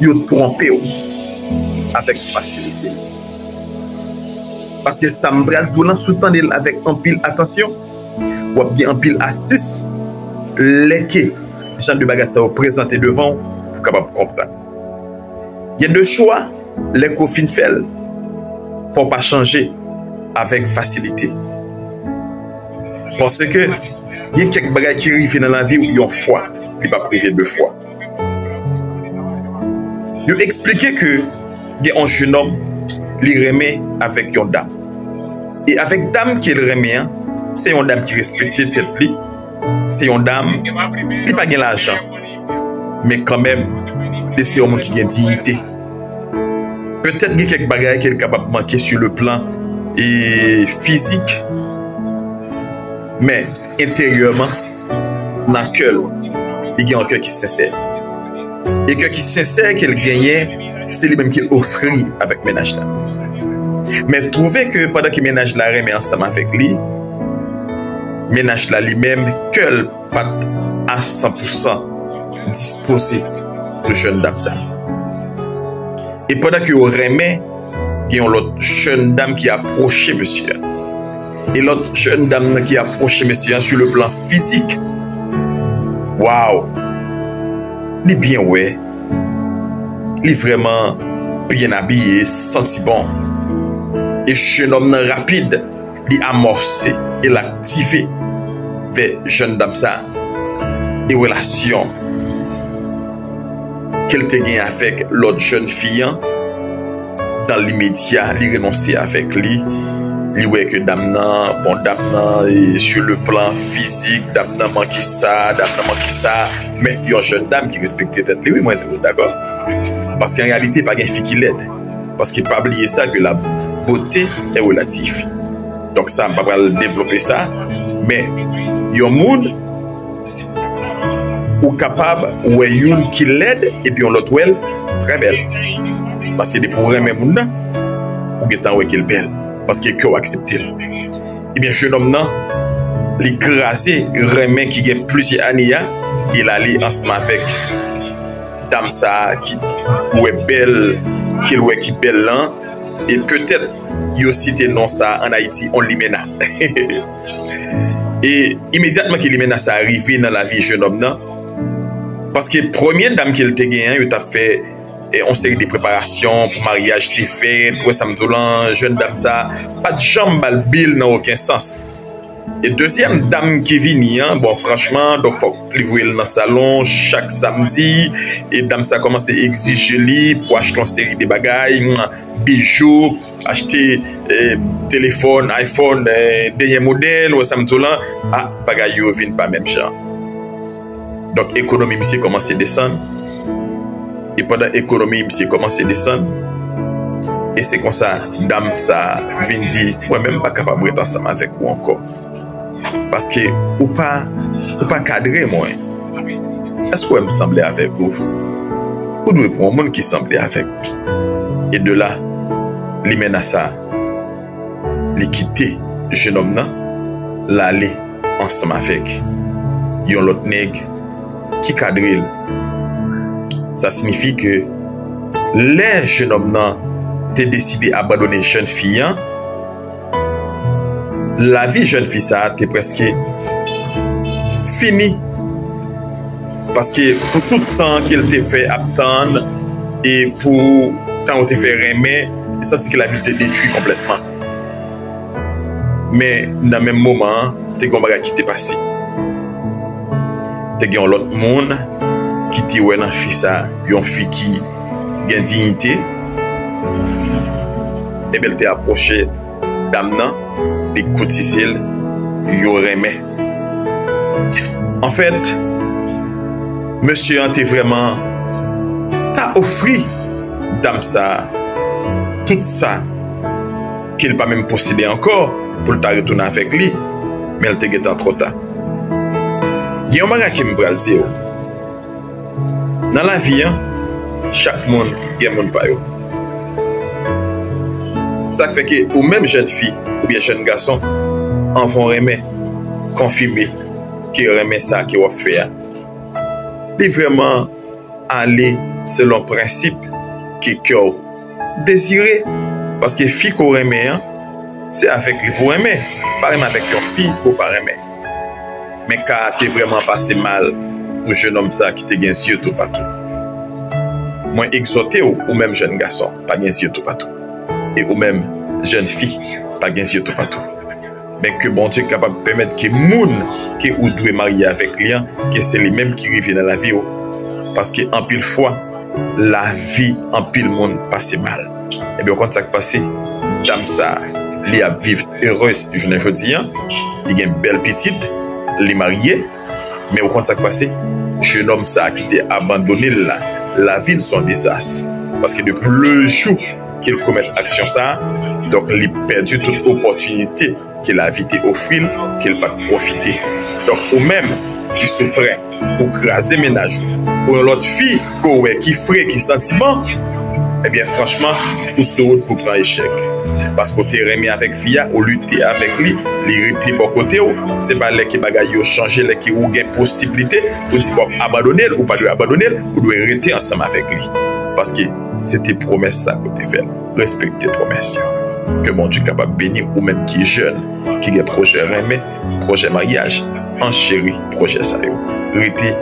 yo twonpe w avèk fasilite. Paske sa m pral di w lan, si w tande l avèk anpil atansyon, w ap gen anpil astis lè ke jan de bagay sa yo prezante devan w pou w kapab konprann. Gen de chwa, lè ke w fin fè l, fò w pa chanje avèk fasilite. Paske gen kèk bagay ki rive nan lavi w yon fwa, li p ap rive de fwa. Yo eksplike ke gen yon jenòm li renmen avèk yon dam. E avèk dam ke l renmen an, se yon dam ki respekte tèt li, se yon dam li pa gen lajan, men kanmenm li se yon moun ki gen diyite. Petèt gen kèk bagay ke l kapab manke sou le plan fizik, men enteryèman. nan kè l, li gen yon kè ki sensè. E kè ki sensè ke l genyen, se li menm ke l ofri avèk mennaj la. Men twouve ke pandan ke mennaj la renmen ansanm avèk li, mennaj la li menm kè l pa t a san pou san dispoze pou jèn dam sa. E pandan ke yo renmen, gen yon lòt jèn dam ki apwoche mesye a. E lòt jèn dam nan ki apwoche mesye an sou le plan fizik. Waw! Li byen wè. Li vrèman byen abiye, santi bon. E jenòm nan rapid, li amòse e l aktive vè jèn dam sa e relasyon ke l te gen avèk lòt jèn fi an. Dan limedya li renonse avèk li, li wè ke dam nan, bon dam nan e su le plan fizik dam nan manke sa, dam nan manke sa, men yon jèn dam ki respekte tèt li wi mwen di nou dakò, paske an reyalite pa gen fi ki lèd, paske pa bliye sa ke la bote e relatif, donk sa m pa pral devlope sa, men yon moun. Ou kapab wè youn ki lèd epi yon lòt wèl trè bèl paske depi ou renmen moun nan ou gentan wè kel bèl paske kèw akseptel ebyen jenòm nan li kraze renmen ki gen plizyè ane ya e lale ansanm avèk dam sa ki wè bèl kel wè ki bèl lan e petèt yo site non sa an ayiti on limena heheheh. E imedyatman ke limenna sa a rive nan lavi jenòm nan, paske premye dam ke li te genyen an, yo t'ap fè yon seri de preparasyon pou maryaj te fèt, ou wè sa m di w lan, jèn dam sa a pat janm ba l bi l nan oken sans. E dezyèm dam ki vini an, bon franchman, donk fòk li voye l nan salon chak samdi, e dam sa a kòmanse egzije li pou achte yon seri de bagay, bijou. Achte telefòn iPhone denyè modèl ou Samsung lan, a bagay yo vin pa menm jan. Donk ekonomi misye kòmanse desann, e pandan ekonomi misye kòmanse desann, e se konsa dam sa vin di mwen menm m pa kapab ret ansanm avèk ou ankò. Paske ou pa ou pa kadre mwen. Èske w wè m sanble avèk ou? Ou dwe pran yon moun ki sanble avèk ou. E de la, limena sa a, li kite jenòm nan, l ale ansanm avèk yon lòt nèg ki kadre l. Sa sinifi ke lè jenòm nan te deside abandone jèn fi an, Lavi jèn fi sa te prèske fini paske pou tout tan ke l te fè ap tann e pou tan ou te fè renmen, li santi ke lavi l te detwi konplètman. Men nan menm moman an, te gen yon bagay ki te pase. Te gen yon lòt moun ki te wè nan fi sa yon fi ki. Gen dignité Ebyen li te aproche dam nan li koutisel yo renmen anfèt mesye an te vrèman ta ofri dam sa tout sa kel pa menm posede ankò poul ta retounen avèk li menl te gentan tròta gen yon bagay kem pral diw. Nan lavi an, chak moun gen moun pa yo. Sa k fè ke ou menm jèn fi oubyen jèn gason, anvan w renmen, konfime ke renmen sa ke w ap fè a, li vrèman ale selon prensip ke kè w. Désiré paske fi ke w renmen an se avèk li pou w renmen pa renmen avèk yon fi ke w pa renmen men ka a te vrèman pase mal pou jenòm sa ki te gen zye toupatou mwen ekzòte w ou menm jèn gason pa gen zye toupatou e ou menm jèn fi pa gen zye toupatou. Men ke Bondye kapab pèmèt ke moun ke ou dwe marye avèk li an ke se li menm ki rive nan lavi ou paske anpil fwa lavi anpil moun pase mal ebyen ou konn sak pase dam sa li ap viv erez jounen jodi an li gen bèl pitit li marye. Men ou konn sa k pase? Jenòm sa a ki te abandone l la, lavi l s on dezas. Paske depi lejou ke l komèt aksyon sa a, donk li pèdi tout opòtinite ke lavi te ofri l, ke l pa t pwofite. Donk ou menm ki sou pwen pou w kraze mennaj ou pou yon lòt fi, Ko wè ki fre ki santiman ebyen franchman ou sou wout pou pran echèk paske ou te renmen avèk fi a ou lite avèk li li rete bò kotew se pa lè ke bagay yo chanje lè ke ou gen posiblite pou di wap abandonel ou pa dwe abandonel ou dwe rete ansanm avèk li paske se te pwomès sa ke ou te fèl respekte pwomès yo ke Bondye kapab beniw ou menm ki jèn ki gen pwojè renmen. Pwojè maryaj an cheri pwojè sa yo rete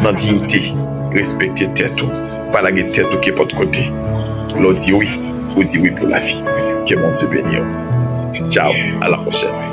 nan diyite respekte tèt ou pa lage tèt ou kenpòt kote lè w di wi ou di wi pou lavi ke Bondye beniw tchao a la pwochèn.